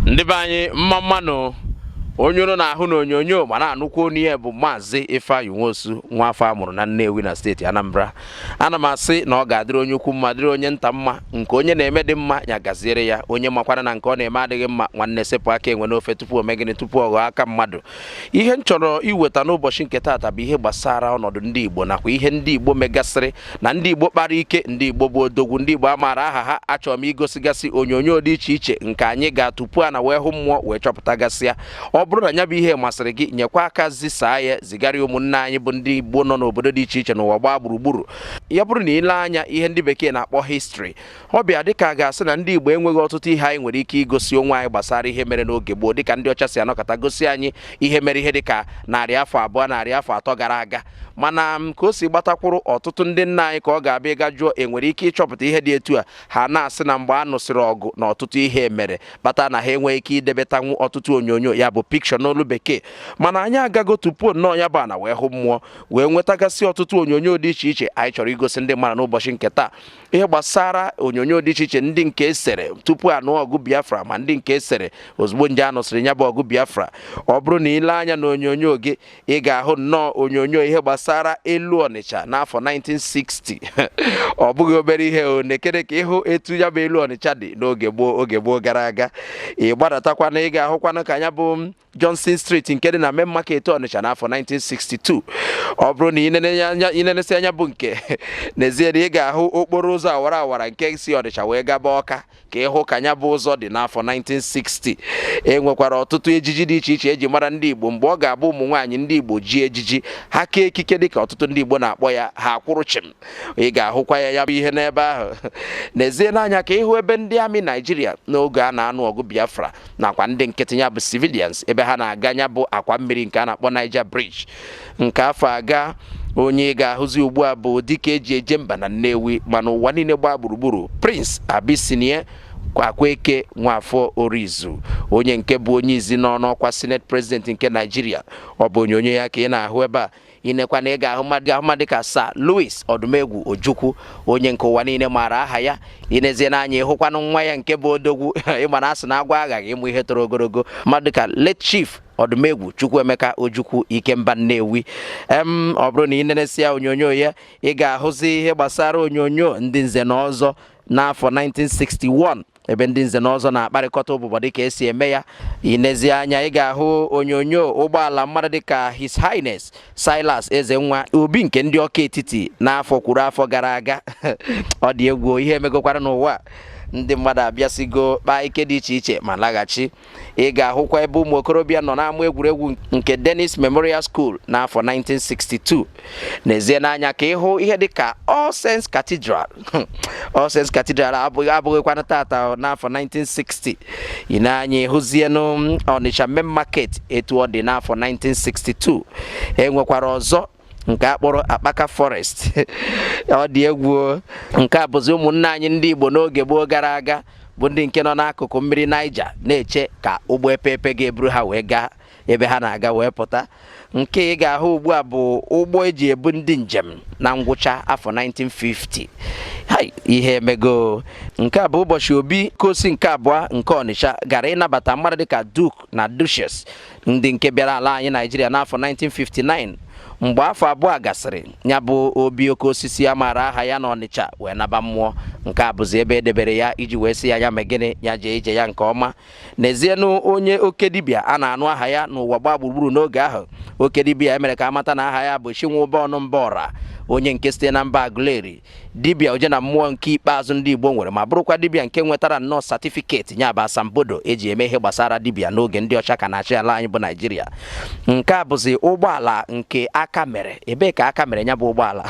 ndị be anyị mma mma nụ onye unu na-ahụ na onyonyo ma na-anụkwu onu ya bụ maazị Ifeanyi Nwosu nwa afọ a mụrụ na Nnewi na steeti Anambra ana m asị na ọ ga-adịrị onye ukwu mma dịrị onye nta mma nke onye na-eme dị mma ya gaziere ya onye makwana na nke ọ na-eme adịghị mma nwanne sepụ aka enwe n'ofe tupu o mee gịnị tupu ọ ghọọ aka mmadụ ihe m chọrọ iweta n'ụbọchị nke taata bụ ihe gbasara ọnọdụ ndị Igbo nakwa ihe ndị Igbo megasịrị na ndị Igbo kpara ike ndị Igbo bụ odogwu ndị Igbo a maara aha ha achọrọ m igosigasị onyonyo dị iche iche nke anyị ga tupu ana wee hụ mmụọ wee chọpụtagasịa ọ bụrụ na ya bụ ihe masịrị gị nyekwa aka zisaa ya zigara ụmụnne anyị bụ ndị Igbo nọ n'obodo dị iche iche n'ụwa gbaa gburugburu ya bụrụ na i le anya ihe ndị bekee na-akpọ history ọ bịa dịka a ga-asị na ndị Igbo enweghị ọtụtụ ihe anyị nwere ike igosi onwe anyị gbasara ihe mere n'oge gboo dịka ndị ọcha si anọkọta gosi anyị ihe mere ihe dịka narị afọ abụọ narị afọ atọ gara aga mana mm, ka o si gbatakwuru ọtụtụ ndị nna anyị ka ọ ga-abịa ịga jụọ enwere ike ịchọpụta ihe dị etu a ha na-asị na mgbe a nụsịrị ọgụ na ọtụtụ ihe mere kpata na ha enweghị ike idebetanwu ọtụtụ onyonyo ya bụ picture n'olu bekee mana anyị agago tupu nnọọ ya bụ ana wee hụ mmụọ wee nwetagasị ọtụtụ onyonyo dị iche iche anyị chọrọ igosi ndị mmadụ n'ụbọchị nke taa ihe gbasara onyonyo dị iche iche ndị nke esere tupu a nụ ọgụ biafra ma ndị nke esere ozugbo nje a nụsịrị ya bụ ọgụ biafra ọ bụrụ na i le anya na onyonyo gị ị ga-ahụ nnọọ onyonyo ihe gbasara elu ọnịcha n'afọ 1960 ọ bụghị obere ihe o nekene ka ị hụ etu ya bụ elu ọnịcha dị n'oge gboo oge gboo gara aga ị gbadatakwanụ ị ga-ahụkwanụ ka ya bụ Johnson Street nke dị na main market Ọnịcha n'afọ 1962 ọ bụrụ na i nenesia ya bụ nke nezienụ ị ga-ahụ okporo ụzọ awara awara nke si Ọnịcha wee gaba Ọka ka ị hụ ka ya bụ ụzọ dị n'afọ 1960 e nwekwara ọtụtụ ejiji dị iche iche eji mara ndị Igbo mgbe ọ ga-abụ ụmụ nwaanyị ndị Igbo ji ejiji ha kee ekike dịka ọtụtụ ndị Igbo na-akpọ ya ha akwụrụ chịm ị ga-ahụkwa ya ya bụ ihe n'ebe ahụ nezienụ anya ka ị hụ ebe ndị army Naijiria n'oge a na-anụ ọgụ Biafra nakwa ndị nkịtị ya bụ civilians ebe ha na-aga ya bụ akwa mmiri nke a na-akpọ Niger Bridge nke afụ agaa onye ị ga-ahụzi ugbu a bụ dike e ji eje mba na Nnewi ma n'ụwa niile gbaa gburugburu Prince Abyssinia Akweke Nwafọ Orizu onye nke bụ onye izizi nọ n'ọkwa Senate President nke Naijiria ọ bụ onyonyo ya ka ị na-ahụ ebe a i nekwanụ ị ga-ahụ mmadụ ka Sir Louis Ọdụmegwu Ojukwu onye nke ụwa niile maara aha ya i nezienụ anya ị hụkwanụ nwa ya nke bụ odogwu ị ma na a sị na agwọ aghaghị ịmụ ihe toro ogologo mmadụ ka late chief ọdụmegwu chukwuemeka ojukwu ikemba nnewi em ọ bụrụ na ị nenesia onyonyo ya ị ga-ahụzi ihe gbasara onyonyo ndị nze na ọzọ n'afọ 1961 ebe ndị nze na ọzọ na-akparịkọta ụbụbọ dịka esi eme ya i nezie anya ị ga-ahụ onyonyo ụgbọala mmadụ dịka His Highness Silas Ezenwa obi nke ndị ọka etiti n'afọ kwuru afọ gara aga ọ dị egwu ihe emegokwara n'ụwa ndị mmadụ abịasigo kpaa ike dị iche iche ma laghachi ị ga-ahụkwa ebe ụmụ okorobịa nọ n'ama egwuregwu nke Dennis Memorial School n'afọ 1962 nezienụ anya ka ị hụ ihe dịka All Saints Cathedral All Saints Cathedral abụghịkwanụ tata n'afọ 1960 i nee anya ị hụzienụ Onitsha Main Market etu ọ dị n'afọ 1962 e nwekwara ọzọ nke a kpọrọ akpaka forest ọ dị egwu nke a bụzi ụmụnne anyị ndị Igbo n'oge gboo gara aga bụ ndị nke nọ n'akụkụ mmiri Niger na-eche ka ụgbọ epeepe ga-eburu ha wee gaa ebe ha na-aga wee pụta nke ị ga-ahụ ugbu a bụ ụgbọ eji ebu ndị njem na ngwụcha afọ 1950 ihe emego nke a bụ ụbọchị obi Okosi nke abụọ nke Ọnịcha gara ịnabata mmadụ dịka Duke na Duchess ndị nke bịara ala anyị naijiria n'afọ 1959 mgbe afọ abụọ gasịrị ya bụ obi oke osisi a maara aha ya na ọnịcha wee naba mmụọ nke a bụzi ebe edebere ya iji wee sị ya ya mee gịnị ya jee ije ya nke ọma nezienụ onye oke dibịa a na-anụ aha ya n'ụwa gbaa gburugburu n'oge ahụ oke dibịa e mere ka a mata na aha ya bụ chinwụba ọnụ mba ọra onye nke site na mba aguleri dibịa oje na mmụọ nke ikpeazụ ndị Igbo nwere ma bụrụkwa dibịa nke nwetara nnọọ satifiketi ya bụ asambodo eji eme ihe gbasara dibịa n'oge ndị ọcha ka na-achị ala anyị bụ Naijiria nke a bụzi ụgbọala nke aka mere ebee ka aka mere ya bụ ụgbọala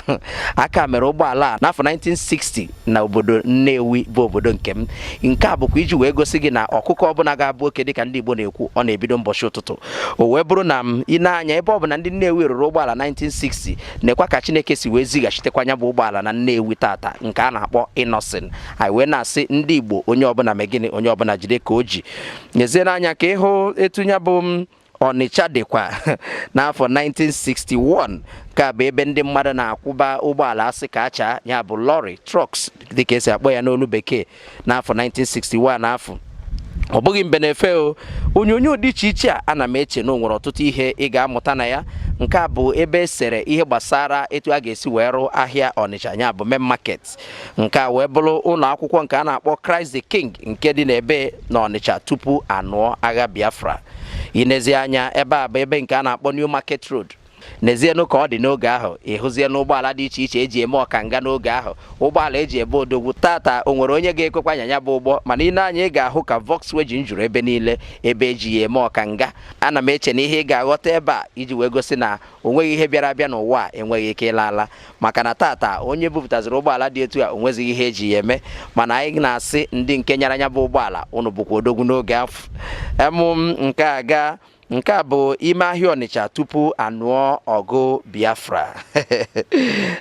aka mere ụgbọala a n'afọ 1960 na obodo Nnewi bụ obodo nke m nke a bụkwa iji wee gosi gị na ọkụkọ ọbụla ga-abụ oke dịka ndị Igbo na-ekwu ọ na-ebido mbọchị ụtụtụ o wee bụrụ na i nee anya ebe ọ bụ na ndị Nnewi rụrụ ụgbọala 1960 nekwa ka chineke si wee zighachitekwa nya bụ ụgbọala na nnewi tata nke a na-akpọ Innoson anyị wee na-asị ndị igbo onye ọbụla mee gịnị onye ọbụla jide ka o ji nezienụ anya ka ị hụ etu ya bụ ọnịcha dịkwa n'afọ 1961 nke a bụ ebe ndị mmadụ na-akwụba ụgbọala asị ka achaa ya bụ lorry trucks dịka esi akpọ ya n'olu bekee n'afọ 1961 afụ ọ bụghị mbe na-efe o onyonyo dị iche iche a ana m eche na o nwere ọtụtụ ihe ị ga-amụta na ya nke a bụ ebe e sere ihe gbasara etu a ga-esi wee rụ ahịa Ọnịcha nya bụ main market nke a wee bụrụ ụlọ akwụkwọ nke a na-akpọ Christ the King nke dị n'ebe na Ọnịcha tupu anụọ agha Biafra i nezie anya ebe a bụ ebe nke a na-akpọ New Market Road nezienụ ka ọ dị n'oge ahụ ị hụzienụ ụgbọala dị iche iche eji eme ọkanga n'oge ahụ ụgbọala eji abụ odogwu tata o nwere onye ga-ekwekwa anya ya bụ ụgbọ mana i nee anya ị ga-ahụ ka Volkswagen juru ebe niile ebe eji ya eme ọkanga ana m eche na ihe ị ga-aghọta ebe a iji wee gosi na o nweghị ihe bịara abịa n'ụwa a enweghị ike ịla ala maka na tata onye bupụtaziri ụgbọala dị etu a o nwezighị ihe eji ya eme mana anyị na-asị ndị nke nyara ya bụ ụgbọala ụnụ bụkwa odogwu n'oge afụ emụ m nke a gaa nke a bụ ime ahịa ọnịcha tupu a nụọ ọgụ biafra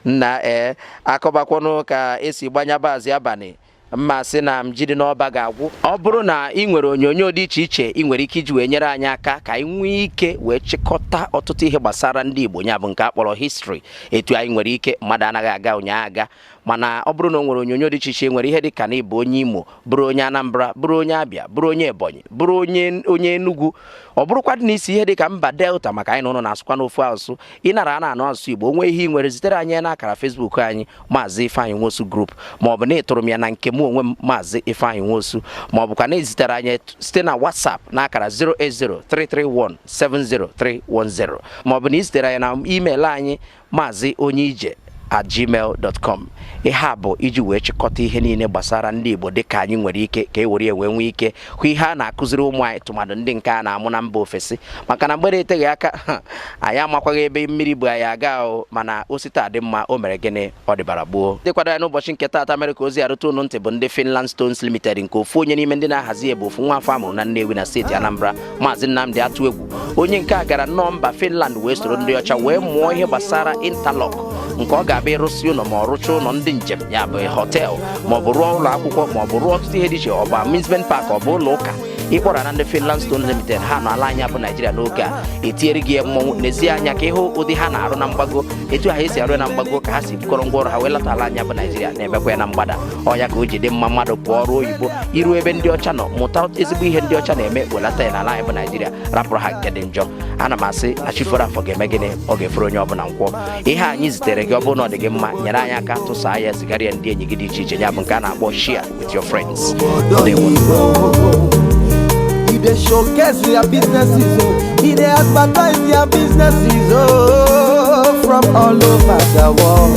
nna ee eh, a kọbakwanụ ka esi gba nya bụ azị abalị m ma sị na ji dị n'ọba ga-agwụ ọ bụrụ na ị nwere onyonyo dị iche iche ị nwere ike iji wee nyere anyị aka ka anyị nwee ike wee chịkọta ọtụtụ ihe gbasara ndị Igbo ya bụ nke a kpọrọ history etu anyị nwere ike mmadụ anaghị aga ụnyaahụ aga mana ọ bụrụ na o nwere onyonyo dị iche iche were ihe dị ka na ị bụ onye Imo bụrụ onye Anambra bụrụ onye Abịa bụrụ onye Ebonyi bụrụ onye Enugu ọ bụrụkwadị na i si ihe dị ka mba Delta maka anyị na ụnụ na-asụkwanụ ofu asụsụ ịnara a na-anụ asụsụ Igbo o nwee ihe ị nwere zitere anyị na akara Facebook anyị maazị Ifeanyị Nwosu Group ma ọ bụ na ị tụrụ m ya na nke m onwe m maazị Ifeanyị Nwosu ma ọ bụkwa na i zitere anyị site na WhatsApp na akara 08033170310 ma ọ bụ na i zitere anyị na email anyị maazị onye ije at gmail dot com ihe a bụ iji wee chịkọta ihe niile gbasara ndị Igbo dịka anyị nwere ike ka e were ya wee nwee ike hụ ihe a na-akụziri ụmụ anyị tụmadụ ndị nke a na-amụ na mba ofesi maka na mgbere eteghị aka anyị amakwaghị ebe mmiri bu anyị aga ahụ mana o si taa dị mma o mere gịnị ọ dịbara gboo ndị kwado ya n'ụbọchị nke taata mere ka ozi a ruta ụnụ ntị bụ ndị Finland Stones Limited nke ofu onye n'ime ndị na-ahazi ya bụ ofu nwa afọ a mụrụ na Nnewi na steeti Anambra Maazị Nnamdi Atụegwu onye nke a gara nnọọ mba Finland wee soro ndị ọcha wee mụọ ihe gbasara interlock nke ọ ga-abụ ị rụsịa ụlọ ma ọ rụchaa ụlọ ndị njem ya bụ hotel ma ọ bụ rụọ ụlọ akwụkwọ ma ọ bụ rụọ ọtụtụ ihe dị iche ọ bụ amusement park ọ bụ ụlọ ụka ị kpọrọ na ndị Finland Stone Limited ha nọ ala anyị bụ Naijiria n'oge a etinyere gị ya mmọnwụ nezie anya ka ị hụ ụdị ha na-arụ na mgbago etu ha esi arụ ya na mgbago ka ha si bukọrọ ngwa ọrụ ha wee lata ala anyị bụ Naijiria na-emekwa ya na mgbada ọ nya ka o ji dị mma mmadụ pụọ ọrụ oyibo i ruo ebe ndị ọcha nọ mụta ezigbo ihe ndị ọcha na-eme welata ya n'ala anyị bụ naijiria rapụrụ ha nke dị njọ ana m asị na chi foro afọ ga-eme gịnị ọ ga-eforo onye ọbụla nkwọ ihe anyị zitere gị ọ bụrụ na ọ dị gị mma nyere anyị aka tụsaa ya zigara ya ndị enyi gị dị iche iche ya bụ nke a na-akpọ share with your friends You dey showcase your businesses, oh. You dey advertise your businesses, oh, from all over the world.